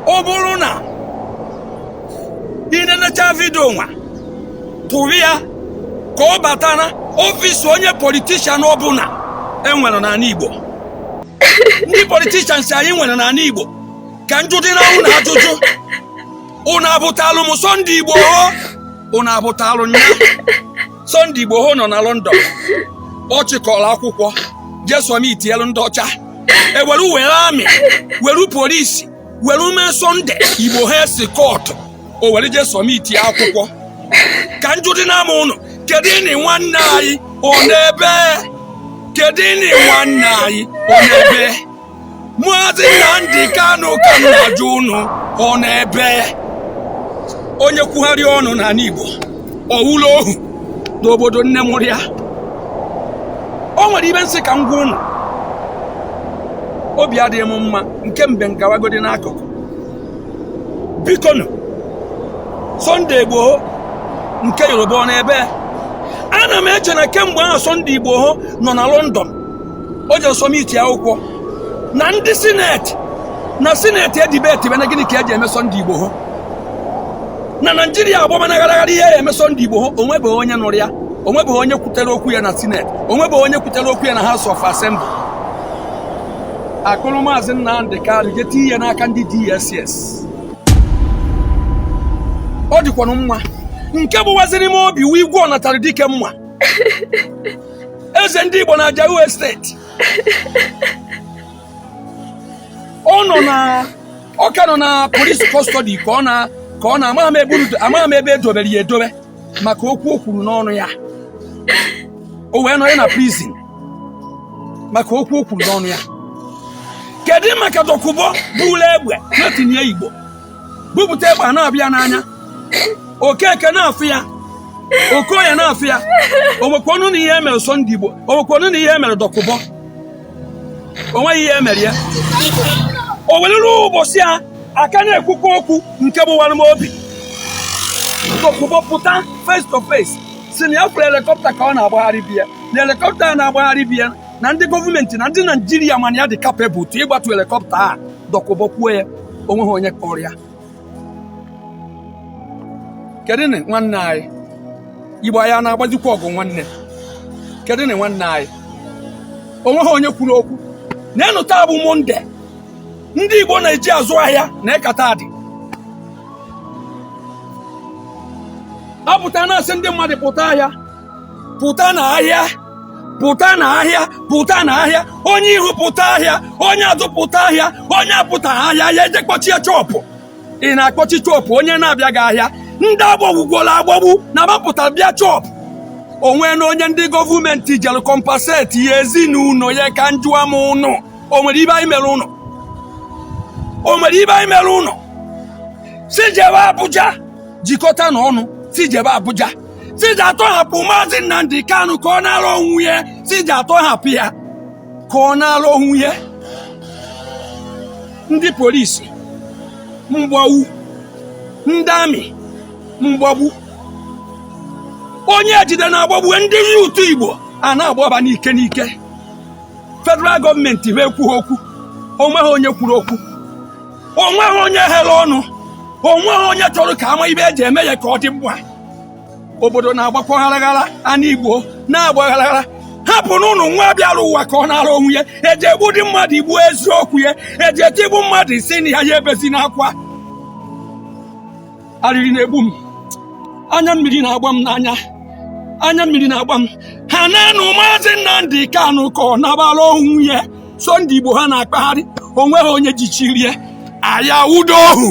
ọ bụrụ na ị nenecha vidio nwa tụrụ ya ka ọ bata na ọfịs onye politishan ọbụna enwere n'anị Igbo ndị politishan nsị anyị nwere n'anị Igbo ka m jụdị na ụnụ ajụjụ ụnụ afụtalụ m Sunday Igboho ụnụ afụtalụ nya Sunday Igboho nọ na London ọ chịkọrọ akwụkwọ je sọmitielu ndị ọcha ewere were amị were polisi were mee Sunday Igboho eskọtụ o were je sọmitie akwụkwọ ka m jụdị na m ụnụ kedunị nwanne anyị ọ nọ ebee kedunị nwanne anyị ọ nọ ebee Maazị Nnamdi Kanu ka m na-ajụ unu ọ nọ ebee onye kwugharịa ọnụ n'anị Igbo ọ wụlụ ohu n'obodo nne mụrụ ya o nwere ibe nsị ka m gwa unu obi adịghị m mma nke mbe ngawagodi n'akụkụ biko nụ Sunday Igboho nke Yoruba ọ nọ ebee ana m eche na kemgbe ahụ Sunday Igboho nọ na London o je sọmitie akwụkwọ na ndị sineti na sineti edibetibe na gịnị ka eji eme Sunday Igboho na naijiria agbamanagharaghara ihe a eme Sunday Igboho onwebeghị onye nụrụ ya onwebeghị onye kwutere okwu ya na sineti onwebeghị onye kwutere okwu ya na house of assembly akpụrụ maazị nnamdi kanu je tiye n'aka ndị dss ọ dịkwanụ mma nke gbawaziri m obi wụ igwe ọ natara dike mma eze ndị Igbo na Ajao Estate ọ nọ na ọ ka nọ na polisi kọstọdi ka ọ na ka ọ na amaghị m ebe edobere ya edobe maka okwu o kwuru n'ọnụ ya o wee nọ ya na prizin maka okwu o kwuru n'ọnụ ya kedu maka Dokubo bulu egbe na-etinye igbo bupụta egbe a na-afụ ya n'anya okeke na-afụ ya okoye na-afụ ya onwekwanu na ihe emere Sunday Igboho onwekwanu na ihe emere Dokubo onweghị ihe emere ya o nwelu ụbọchị a ka na-ekwukwa okwu nke gbawara m obi Dokubo pụta face to face si na ya fụrụ helikọpta ka ọ na-agbagharị be ya na helikọpta a na-agbagharị be ya na ndị gọọmenti na ndị naijiria ma na ya dị capable to ịgbatu helikọpta a Dokubo kwuo ya onweghị onye kpụrụ ya kedụnị nwanne anyị igbo anyị a na-agbazikwa ọgụ nwanne kedụnị nwanne anyị onweghị onye kwuru okwu neenụ taa bụ monde ndị igbo na-eji azụ ahịa na ịkata adị apụta na-asị ndị mmadụ pụta ahịa pụta na ahịa pụta na ahịa pụta na ahịa onye ihu pụta ahịa onye azụ pụta ahịa onye apụta ahịa ya eje kpọchie shọpụ ị na-akpọchi shọpụ onye na-abịaghị ahịa ndị agbagbugwola agbagbu na mapụta bịa shọpụ o nwena onye ndị gọọmenti jere kọmpaseti ya ezinụlọ ya ka njụa m ụnụ o nwere ibe anyị mere ụnụ o nwere ibe anyị mere ụnụ si jebe Abuja jikọta na ọnụ si jebe Abuja si je atọhapụ maazị Nnamdi Kanu ka ọ nalụ onwe ya si je atọhapụ ya ka ọ nalụ onwe ya ndị polisi mgbagbu ndị amị mgbagbu onye ejide na-agbagbu ndị yuutu Igbo a na-agbaba n'ike n'ike federal gọọmenti ha ekwughị okwu onweghị onye kwuru okwu onweghị onye ghere ọnụ onweghị onye chọrọ ka ama ibe eji eme ya ka ọ dị mma obodo na-agbakwa gharaghara ana Igbo na-agba gharaghara hapụnụnụ nwa bịara ụwa ka ọ nara onwe ya eji egbudị mmadụ ikwu eziokwu ya eji etigbu mmadụ i si na ya ya ebezina akwa arịrị na-egbu m anya mmiri na-agba m n'anya anya mmiri na-agba m hanaanụ maazị Nnamdi Kanu ka ọ nabara onwe ya Sunday Igboho na-akpagharị onweghị onye jichirie aya udo ohu